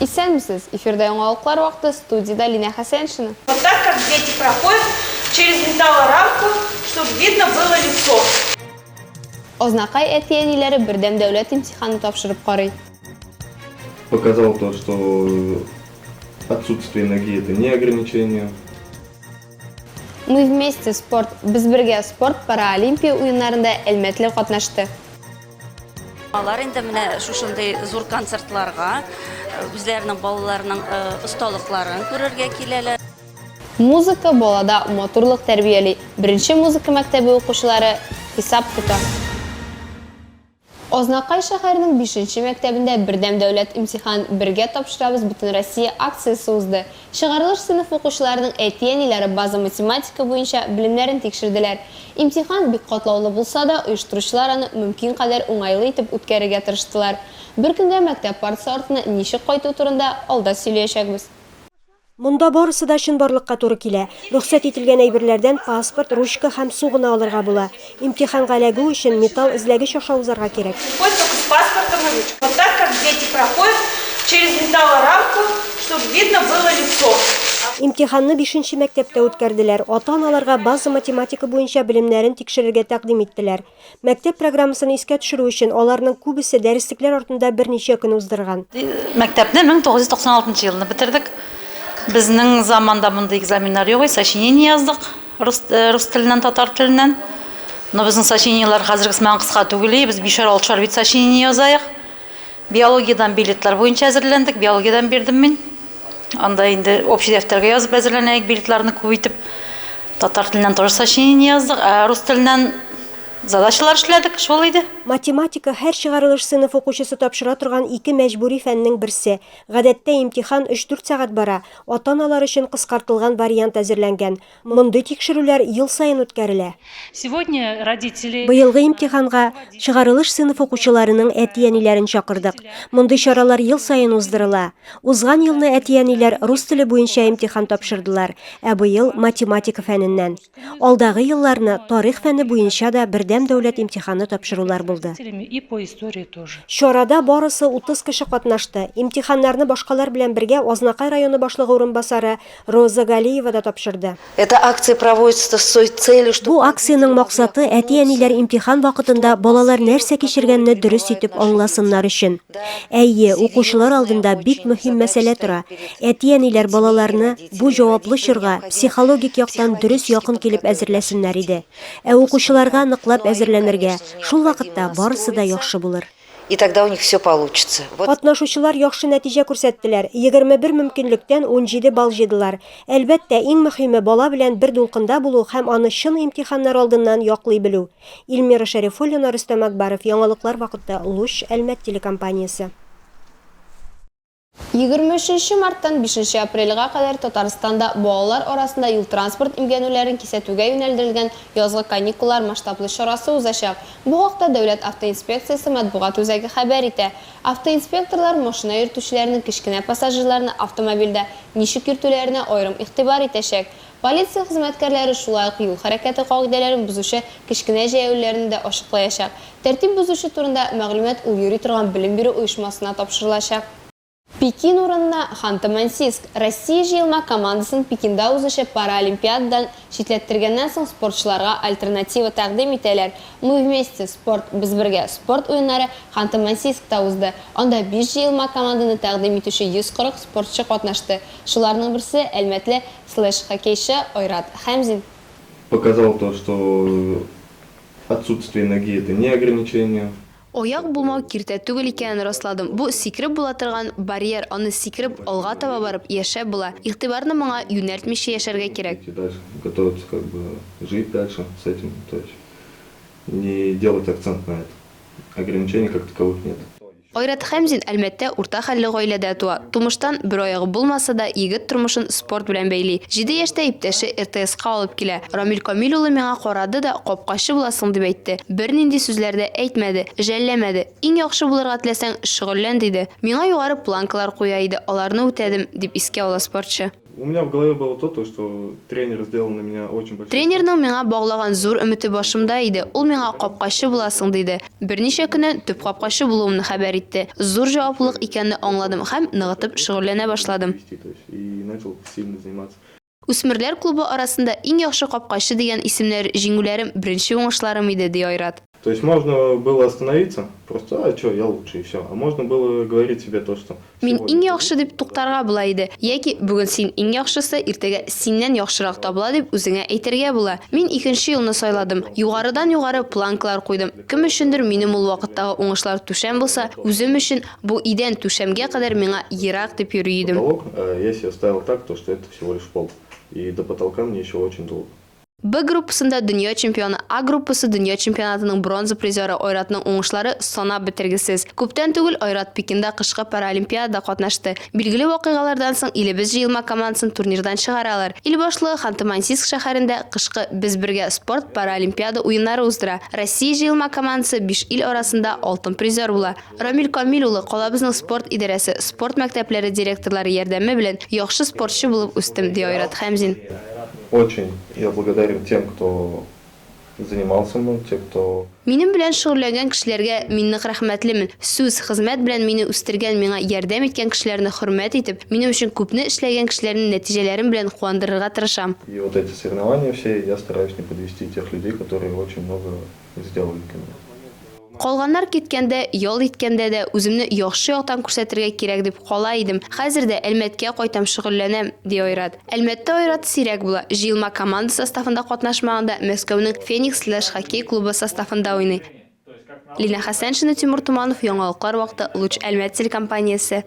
Исәнмесез! Эфирда яңалыклар вакыты, студиядә Линә Хәсәншина. Вот так как дети проходят через металлорамку, чтобы видно было лицо. Азнакай әти-әниләре бердәм дәүләт имтиханы тапшырып карый. Показал то, что отсутствие ноги это не ограничение. Мы вместе спорт, без бергә спорт паралимпия уеннарында әлмәтле катнашты. Алар инде менә шушындый зур концертларга үзләренең балаларының осталыкларын күрергә киләләр. Музыка балада матурлык тәрбияли. Беренче музыка мәктәбе укучылары хисап тота. Азнакай шәһәренең бишенче мәктәбендә Бердәм дәүләт имтихан, бергә тапшырабыз Бөтенроссия акциясе узды. Чыгарылыш сыйныф укучыларының әти-әниләре база математика буенча белемнәрен тикшерделәр. Имтихан бик катлаулы булса да, оештыручылар аны мөмкин кадәр уңайлы итеп үткәрергә тырыштылар. Бер көнгә мәктәп партасы артына ничек кайту турында алда сөйләячәкбез. Монда барысы да чынбарлыкка туры килә. Рөхсәт ителгән әйберләрдән паспорт, ручка һәм су гына алырга була. Имтиханга эләгү өчен металл эзләгеч аша узарга кирәк. Выходит только с паспортом и ручкой. Вот так как дети проходят через металлорамку, чтобы видно было лицо. Имтиханны бишенче мәктәптә үткәрделәр. Ата-аналарга база математика буенча белемнәрен тикшерергә тәкъдим иттеләр. Мәктәп программасын искә төшерү өчен аларның күбесе дәреслекләр артында берничә көн уздырган. Мәктәпне 1996 елны бетердек. Безнең заманда мондый экзаменнар юк иде, сочинение яздык рус, рус теленнән, татар теленнән. Но безнең сочинениеләр хәзергесмән кыска түгел, без бишәр-алтышар бит сочинение язаек. Биологиядән билетлар буенча әзерләндек. Биологиядән бирдем мин. Анда инде общий дәфтәргә язып әзерләнәек билетларны күп итеп. Татар теленнән тоже сочинение яздык, ә рус теленнән задачалар эшләдек, шул иде. Математика, һәр чыгарылыш сыйныф укучысы тапшыра торган ике мәҗбүри фәннең берсе. Гадәттә имтихан өч-дүрт сәгать бара. Ата-аналар өчен кыскартылган вариант әзерләнгән. Мондый тикшерүләр ел саен үткәрелә. Сегодня родители Быелгы имтиханга чыгарылыш сыйныф укучыларының әти-әниләрен чакырдык. Мондый чаралар ел саен уздырыла. Узган елны әти-әниләр рус теле буенча имтихан тапшырдылар, ә быел, математика фәненнән. Алдагы елларны тарих фәне буенча да бердәм дәүләт имтиханы тапшырулар булды. родителями и по истории тоже. Чарада барысы 30 кеше катнашты. Имтиханнарны башкалар белән бергә Азнакай районы башлыгы урынбасары Роза Галиева да тапшырды. Эта акция проводится с той целью, что... Бу акциянең максаты әти-әниләр имтихан вакытында балалар нәрсә кичергәнне дөрес итеп аңласыннар өчен. Әйе, укучылар алдында бик мөһим мәсьәлә тора. Әти-әниләр балаларны бу җаваплы чорга психологик яктан дөрес якын килеп әзерләсеннәр иде. Ә укучыларга ныклап әзерләнергә, шул вакытта барысы да яхшы булыр. И тогда у них все получится. Вот. Катнашучылар яхшы нәтиҗә күрсәттеләр. 21 мөмкинлектән 17 балл җыйдылар. Әлбәттә, иң мөһиме бала белән бер дулкында булу һәм аны чын имтиханнар алдыннан яклый белү. Ильмира Шәрифуллина, Рөстәм Акбаров, яңалыклар вакыты, Луч, Әлмәт телекомпаниясе. Егерме өченче марттан бишенче апрельгә кадәр Татарстанда балалар арасында юл-транспорт имгәнүләрен кисәтүгә юнәлдерелгән язгы каникуллар масштаблы чарасы узачак. Бу хакта Дәүләт автоинспекциясе матбугат үзәге хәбәр итә. Автоинспекторлар машина йөртүчеләрнең кечкенә пассажирларны автомобильдә ничек йөртүләренә аерым игътибар итәчәк. Полиция хезмәткәрләре шулай ук юл хәрәкәте кагыйдәләрен бозучы кечкенә җәяүлеләрне дә ачыклаячак. Тәртип бозучы турында мәгълүмат ул йөри торган белем бирү оешмасына тапшырылачак. Пекин урынына Ханты-Мансийск, Россия җыелма командасын Пекинда узучы Паралимпиададан читләттергәннән соң спортчыларга альтернатива тәкъдим итәләр. Мы вместе, спорт, без бергә, спорт уеннары Ханты-Мансийскта узды. Анда биш җыелма команданы тәкъдим итүче 140 спортчы катнашты. Шуларның берсе, әлмәтле Слэш, хоккейчы Айрат Хәмзин. Показал то, что отсутствие ноги это не ограничение. Аяк булмау киртә түгел икәнен расладым. Бу сикереп була торган барьер, аны сикереп, алга таба барып, яшәп була. Игътибарны моңа юнәлтмичә яшәргә кирәк. Идти дальше, готовиться как бы жить дальше с этим, то есть не делать акцент на это. Ограничений как таковых нет. Айрат Хәмзин Әлмәттә урта хәлле гаиләдә туа. Тумыштан бер аягы булмаса да, егет тормышын спорт белән бәйли. Җиде яшьтә иптәше РТСка алып килә. Рамил Камил улы миңа карады да, капкачы буласың дип әйтте. Бернинди сүзләр дә әйтмәде, жәлләмәде. Иң яхшы булырга теләсәң, шөгыльлән, диде. Миңа югары планкалар куя иде, аларны үтәдем, дип искә ала спортчы. Тренерның миңа баглаган зур өмете башымда иде, ул миңа капкачы буласың диде. Берничә көннән төп капкачы булуымны хәбәр итте. Зур җаваплылык икәнне аңладым һәм ныгытып шөгыльләнә башладым. Үсмерләр клубы арасында иң яхшы капкачы дигән исемнәр, җиңүләрем, беренче уңышларым иде, ди Айрат. То есть можно было остановиться, просто, а чё, я лучше и всё, а можно было говорить себе то, что. Мин иң яхшы дип туктарга була иде, яки бүген син иң яхшысы, иртәгә синнән яхшырак табыла дип үзеңә әйтергә була. Мин икенче юлны сайладым. Югарыдан-югары планкалар куйдым. Кем өчендер минем ул вакыттагы уңышлар түшәм булса, үзем өчен бу идән түшәмгә кадәр миңа ерак дип йөри идем. Потолок, а я себе ставил так, то что это всего лишь пол, и до потолка мне еще очень долго. Б группасында дөнья чемпионы, А группасы дөнья чемпионатының бронза призеры Айратның уңышлары санап бетергесез. Күптән түгел Айрат Пекинда кышкы паралимпиадада катнашты. Билгеле вакыйгалардан соң илебез җыелма командасын турнирдан чыгаралар. Ил башлыгы Ханты-Мансийск шәһәрендә кышкы Без бергә! спорт паралимпиада уеннары уздыра. Россия җыелма командасы биш ил арасында алтын призер була. Рамил Камил улы, калабызның спорт идарәсе, спорт мәктәпләре директорлары ярдәме белән яхшы спортчы булып үстем, ди Айрат Хәмзин. Очень я благодарен тем кто занимал со мной те кто. Минем белән шөгыльләнгән кешеләргә мин нык рәхмәтлемен, сүз, хезмәт белән мине үстергән, миңа ярдәм иткән кешеләрне хөрмәт итеп, минем өчен күпне эшләгән кешеләрне нәтиҗәләрем белән куандырырга тырышам. И вот эти соревнования все я стараюсь не подвести тех людей которые очень много эзләү мөмкин. Калганнар киткәндә, ял иткәндә дә үземне яхшы яктан күрсәтергә кирәк дип кала идем. Хәзер дә Әлмәткә кайтам, шөгыльләнәм, ди Айрат. Әлмәттә Айрат сирәк була. Җыелма команда составында катнашмаганда, Мәскәүнең Феникс Слэш хоккей клубы составында уйный. Лина Хәсәншина, Тимур Туманов, Яңалыклар вакыты, Луч Әлмәт телекомпаниясе.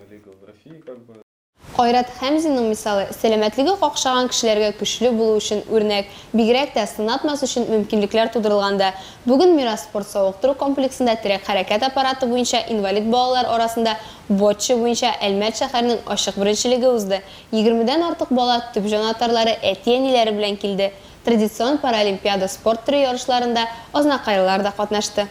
Айрат Хәмзинның мисалы, сәламәтлеге какшаган кешеләргә көчле булу өчен үрнәк, бигрәк тә, сынатмас өчен мөмкинлекләр тудырылган да. Бүген Мирас спорт-савыктыру комплексында терәк-хәрәкәт аппараты буенча инвалид балалар арасында Боччо буенча Әлмәт шәһәренең ачык беренчелеге узды. Егермедән артык бала төп җанатарлары, әти-әниләре белән килде. Традицион паралимпиада спорт төре ярышларында азнакайлылар да катнашты.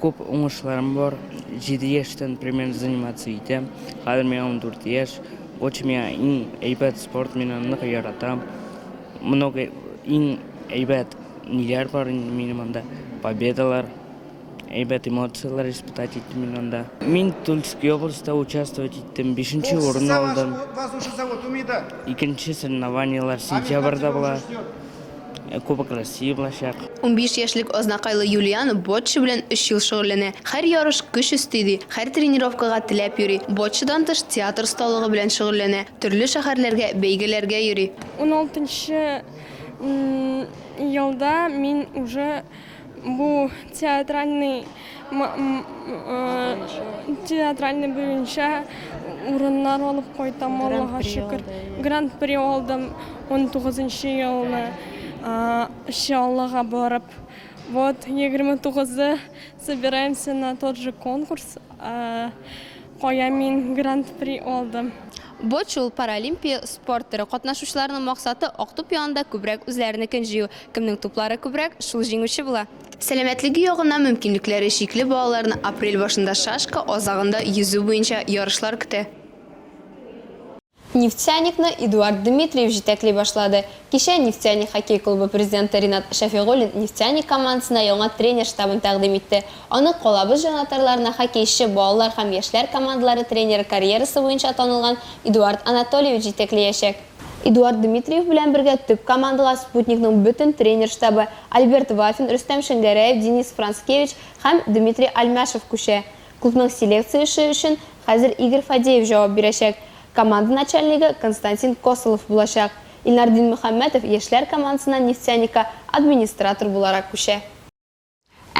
Күп уңышларым бар. Җиде яшьтән примерно заниматься итәм. Хәзер миңа ундүрт яшь. Очень миңа иң әйбәт спорт, мин аны нык яратам. Много иң әйбәт ниләр бар инде минем анда. Победалар, әйбәт эмоцияләр испытать иттем мин анда. Мин Тульский областьта участвовать иттем, бишенче урын алдым. Икенче соревнованиеләр сентябрьдә була. Кубок России булачак. Унбиш яшьлек азнакайлы Юлиан боцчо белән өч ел шөгыльләнә. Һәр ярыш көч өсти, ди. Һәр тренировкага теләп йөри. Боцчодан тыш театр осталыгы белән шөгыльләнә. Төрле шәһәрләргә, бәйгеләргә йөри. Уналтынчы елда мин уже Бу театральный театральный буенча урыннар алып кайтам, Аллага шөкер. Гран-при алдым 19 нчы елны Чаллыга барып. Вот 29-ы собираемся на тот же конкурс, кая мин гран-при алдым. Бу чул паралимпия спорт төре катнашучыларының максаты Актүп янында күбрәк үзләренекен җыю. Кемнең туплары күбрәк, шул җиңүче була. Сәламәтлеге ягыннан мөмкинлекләре чикле балаларны апрель башында шашка, азагында йөзү буенча ярышлар көтә. Нефтяникны Эдуард Дмитриев җитәкли башлады. Кичә Нефтяник хоккей клубы президенты Ринат Шәфигуллин Нефтяник командасына яңа тренер штабын тәкъдим итте. Аны калабыз җанатарларына хоккейчы, балалар һәм яшьләр командалары тренеры карьерасы буенча танылган Эдуард Анатольевич җитәкләячәк. Эдуард Дмитриев белән бергә төп командага Спутникның бөтен тренер штабы, Альберт Вафин, Рөстәм Шәңгәрәев, Денис Францкевич һәм Дмитрий Альмяшев күчә. Клубның селекция эше өчен хәзер Игорь Фадеев җавап бирәчәк. Команда начальнигы Константин Косолов булачак. Илнар Динмөхәммәтов яшьләр командасына Нефтяника администратор буларак күчә.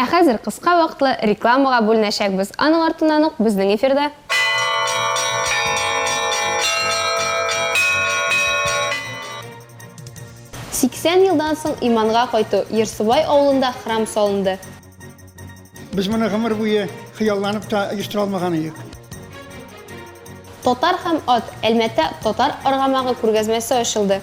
Ә хәзер кыска вакытлы рекламага бүленәчәкбез, аның артыннан ук безнең эфирда. Сиксән елдан соң иманга кайту, Ерсубай авылында храм салынды. Без моны гомер буе хыялланып та оештыра алмаган идек. Татар һәм ат, Әлмәттә татар аргамагы күргәзмәсе ачылды.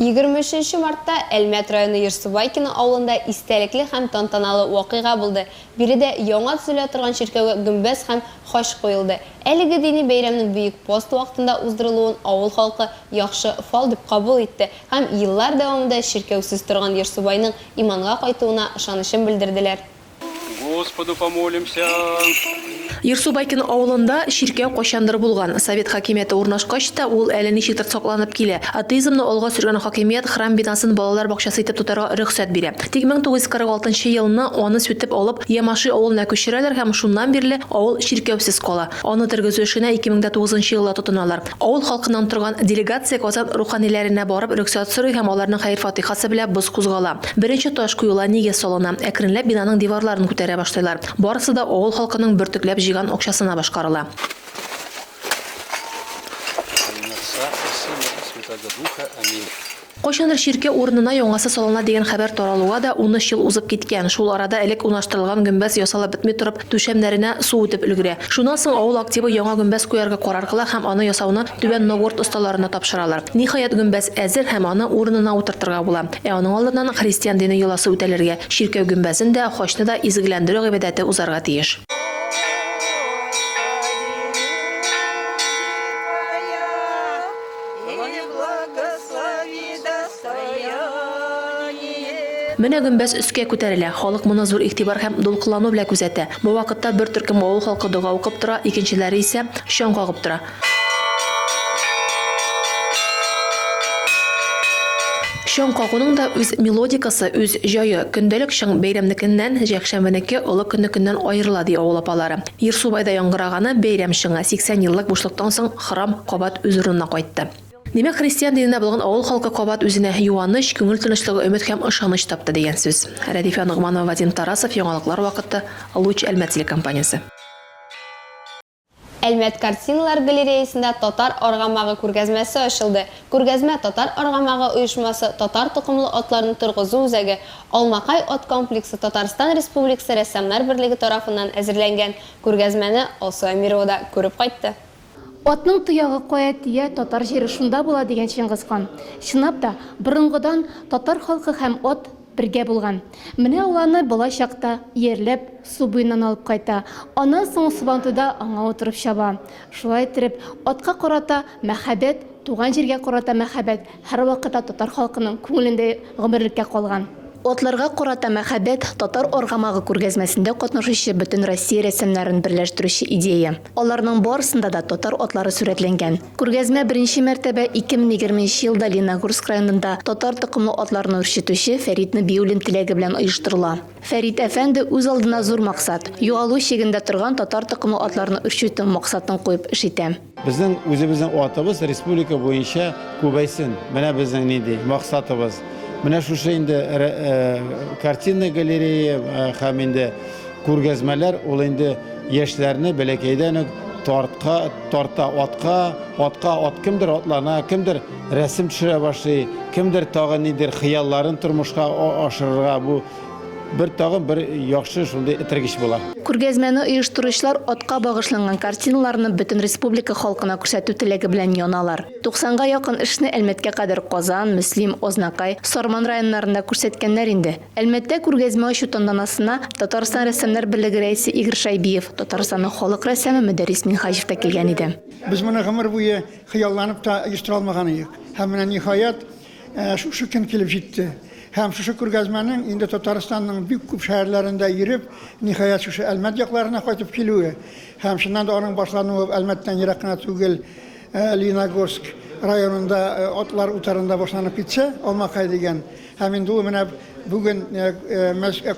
23 нче мартта Әлмәт районы Ерсубайкино авылында истәлекле һәм тантаналы вакыйга булды. Биредә яңа төзелә торган чиркәүгә гөмбәз һәм хач куелды. Әлеге дини бәйрәмнең Бөек пост вакытында уздырылуын авыл халкы яхшы фал дип кабул итте һәм еллар дәвамында чиркәүсез торган Ерсубайның иманга кайтуына ышанычын белдерделәр. Господу помолимся. Ерсу Байкино авылында чиркәү кайчандыр булган. Совет хакимияте урнашкач та, ул әле ничектер сакланып килә. Атеизмны алга сөргән хакимият храм бинасын балалар бакчасы итеп тотарга рөхсәт бирә. Тик 1946 нчы елны аны сүтеп алып, Ямаши авылына күчерәләр һәм шуннан бирле авыл чиркәүсез кала. Аны тергезү эшенә 2009 нчы елда тотыналар. Авыл халкыннан торган делегация Казан руханиләренә барып рөхсәт сорый һәм аларның хәер-фатыйхасы белә боз кузгала. Беренче таш куела, нигез салына. Әкренләп бинаның диварларын күтәрә башлыйлар. Барысы да авыл халкының бөртекләп җыйган акчасына башкарыла. Кайчандыр чиркәү урынына яңасы салына дигән хәбәр таралуга да унөч ел узып киткән, шул арада элек унаштырылган гөмбәз ясалып бетми торып, түшәмнәренә су үтеп өлгерә. Шуннан соң авыл активы яңа гөмбәз куярга карар кыла һәм аны ясауны Түбән Новгород осталарына тапшыралар. Ниһаять, гөмбәз әзер һәм аны урынына утыртырга була. Ә аның алдыннан христиан дине йоласы үтәлергә, чиркәү гөмбәзен дә, хачны да изгеләндерү гыйбадәте узарга тиеш. Менә гөмбәз өскә күтәрелә. Халык моны зур игътибар һәм дулкынлану белән күзәтә. Бу вакытта бер төркем авыл халкы дога укып тора, икенчеләре исә чаң кагып тора. Чаң кагуның да үз мелодикасы, үз җае. Көндәлек чаң бәйрәмнекеннән, җәкшәмбенеке олы көннекеннән аерыла, ди авыл апалары. Ир Субайда яңгыраганы бәйрәм чыңы, 80 еллык бушлыктан соң храм кабат үз урынына кайтты. Димәк, христиан диненә булган авыл халкы кабат үзенә юаныч, күңел тынычлыгы, өмет һәм ышаныч тапты дигән сүз. Рәдифә Ногманова, Вадим Тарасов, Яңалыклар вакыты, Луч Әлмәт телекомпаниясе. Әлмәт картиналар галереясында Татар аргамагы күргәзмәсе ачылды. Күргәзмә Татар аргамагы оешмасы Татар токымлы атларны торгызу үзәге Алмакай ат комплексы Татарстан Республикасы рәссамнар берлеге тарафыннан әзерләнгән күргәзмәне Алсу Әмирова да күреп кайтты. Атның тоягы кая тия, татар җире шунда була, дигән Чыңгыз хан. Чынлап та, борынгыдан татар халкы һәм ат Бергә булган. Менә ул аны бала чакта иярләп, су буеннан алып кайта. Аннан соң сабантуйда аңа утырып чаба. Шулай иттереп, атка карата мәхәббәт, туган җиргә карата мәхәббәт һәрвакыта татар халкының күңелендә гомерлеккә калган. Атларга карата мәхәббәт, Татар аргамагы күргәзмәсендә катнашучы бөтен Россия рәссамнарын берләштерүче идея. Аларның барысында да татар атлары сурәтләнгән. Күргәзмә беренче мәртәбә 2020 нче елда Леногорск районында татар токымлы атларны үрчетүче Фәрит Нәбиуллин теләге белән оештырыла. Фәрит әфәнде үз алдына зур максат, югалу чигендә торган татар токымлы атларны үрчетү максатын куеп эш итә. Безнең үзебезнең атыбыз республика буенча күбәйсен, менә безнең нинди максатыбыз. Менә шушы инде картинный галерея һәм инде Күргәзмәләр ул инде яшьләрне бәләкәйдән үк тартка, тарта атка, атка ат кемдер атлана, кемдер рәсем төшерә башлый, кемдер тагын нидер хыялларын тормышка ашырырга бу бер тагын бер яхшы шундый этергеч була. Күргәзмәне оештыручылар атка багышланган картиналарны бөтен республика халкына күрсәтү теләге белән яналар. 90 га якын эшне Әлмәткә кадәр Казан, Мөслим, Азнакай, Сарман районнарында күрсәткәннәр инде. Әлмәттә күргәзмә ачу тантанасына Татарстан рәссамнар берлеге рәисе Игорь Шайбиев, Татарстанның халык рәссамы Мөдәррис Минһаҗев та килгән иде. Без моны гомер буе хыялланып та оештыра алмаган идек. Һәм менә, ниһаять, шушы көн килеп җитте. Һәм шушы күргәзмәнең инде Татарстанның бик күп шәһәрләрендә йөреп, ниһаять, шушы Әлмәт якларына кайтып килүе һәм, чыннан да, аның башлануы Әлмәттән ерак кына түгел, Лениногорск районында, атлар утарында башланып китсә, Алмакай дигән Һәм инде ул менә бүген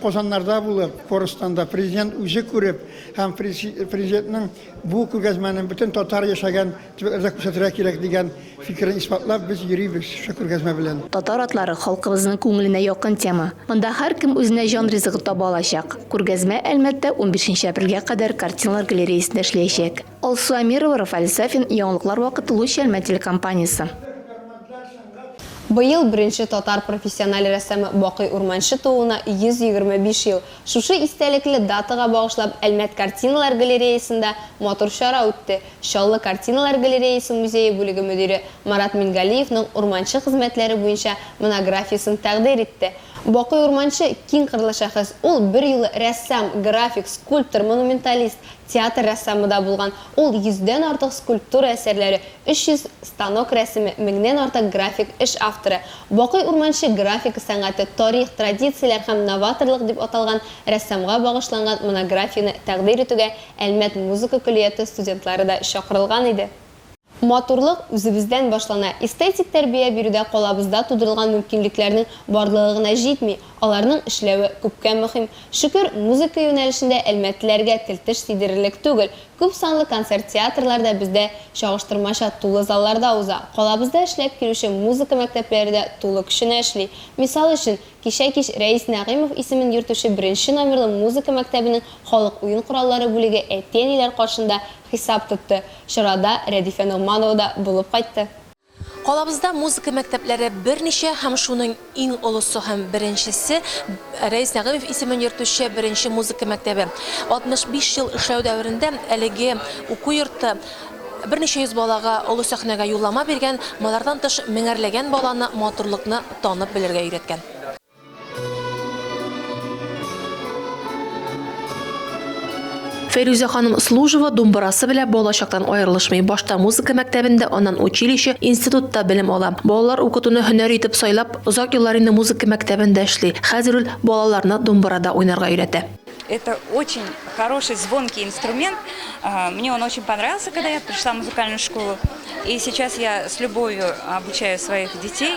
Казаннарда булып, Корстанда Президент үзе күреп һәм Президентның бу күргәзмәне бөтен татар яшәгән төбәкләрдә күрсәтергә кирәк дигән фикерен исбатлап, без йөрибез шушы күргәзмә белән. Татар атлары халкыбызның күңеленә якын тема. Монда һәркем үзенә җан ризыгы таба алачак. Күргәзмә Әлмәттә унбишенче апрельгә кадәр картиналар галереясендә эшләячәк. Алсу Әмирова, Рафаэль Сафин, Яңалыклар вакыты Луч Әлмәт телекомпаниясе. Быел беренче татар профессиональ рәссамы Бакый Урманче тууына 125 ел. Шушы истәлекле датага багышлап Әлмәт картиналар галереясында матур чара үтте. Чаллы картиналар галереясе музее бүлеге мөдире Марат Мингалиевның Урманче хезмәтләре буенча монографиясен тәкъдир итте. Бакый Урманче, киң кырлы шәхес. Ул берьюлы рәссам, график, скульптор, монументалист, Театр рәссамы да булган. Ул йөздән артык скульптура әсәрләре, 300 станок рәсеме, меңнән артык график эш авторы. Бакый Урманче графика сәнгате, тарих, традицияләр һәм новаторлык дип аталган рәссамга багышланган монографияне тәкъдир итүгә Әлмәт музыка көллияте студентлары да чакырылган иде. Матурлык үзебездән башлана. Эстетик тәрбия бирүдә калабызда тудырылган мөмкинлекләрнең барлыгы гына җитми, аларның эшләве күпкә мөһим. Шөкер, музыка юнәлешендә әлмәтлеләргә тел-теш тидерерлек түгел. Күп санлы концерт-театрлар да бездә чагыштырмача тулы залларда уза. Калабызда эшләп килүче музыка мәктәпләре дә тулы көченә эшли. Мисал өчен, кичә кич Рәис Нәгыймов исемен йөртүче беренче номерлы музыка мәктәбенең халык уен кораллары бүлеге әти-әниләр каршында Хисап тотты. Чарада Рәдифә Ногманова да булып кайтты. Калабызда музыка мәктәпләре берничә һәм шуның иң олысы һәм беренчесе, Рәис Нәгыймов исемен йөртүче беренче музыка мәктәбе. 65 ел эшләү дәверендә әлеге уку йорты берничә йөз балага олы сәхнәгә юллама биргән, болардан тыш меңәрләгән баланы матурлыкны танып белергә өйрәткән. Фәйрүзә ханым Служева думбырасы белән балачактан аерылышмый. Башта музыка мәктәбендә, аннан училище, институтта белем ала. Балалар укытуны һөнәр итеп сайлап, озак еллар инде музыка мәктәбендә эшли. Хәзер ул балаларны думбырада уйнарга өйрәтә. Это очень хороший звонкий инструмент. Мне он очень понравился, когда я пришла в музыкальную школу. И сейчас я с любовью обучаю своих детей.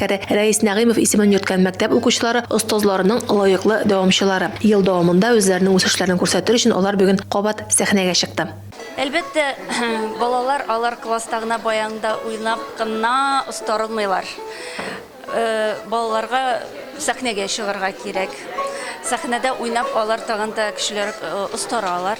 җитәкчеләре, Рәис Нәгыймов исемен йөрткән мәктәп укучылары, остазларының лаеклы дәвамчылары. Ел дәвамында үзләренең үсешләрен күрсәтер өчен алар бүген кабат сәхнәгә чыкты. Әлбәттә, балалар алар класста гына баянда уйнап кына остарылмыйлар. Балаларга сәхнәгә чыгарга кирәк. Сәхнәдә уйнап алар тагын да көчлерәк остаралар.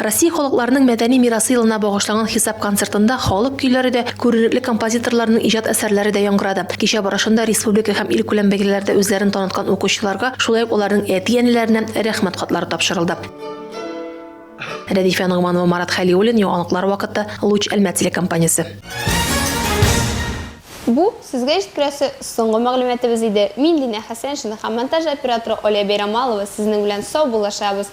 Россия халыкларының мәдәни мирасы елына багышланган хисап концертында халык көйләре дә, күренекле композиторларның иҗат әсәрләре дә яңгырады. Кичә барышында республика һәм илкүләм бәйгеләрдә үзләрен таныткан укучыларга, шулай ук аларның әти-әниләренә Рәхмәт хатлары тапшырылды. Рәдифә Ногманова, Марат Хәлиуллин, Яңалыклар вакыты, Луч Әлмәт телекомпаниясе. Бу, сезгә җиткерәсе соңгы мәгълүматыбыз иде. Мин Динә Хәсәншина һәм монтаж операторы Алия Бәйрамалова сезнең белән сау булышабыз.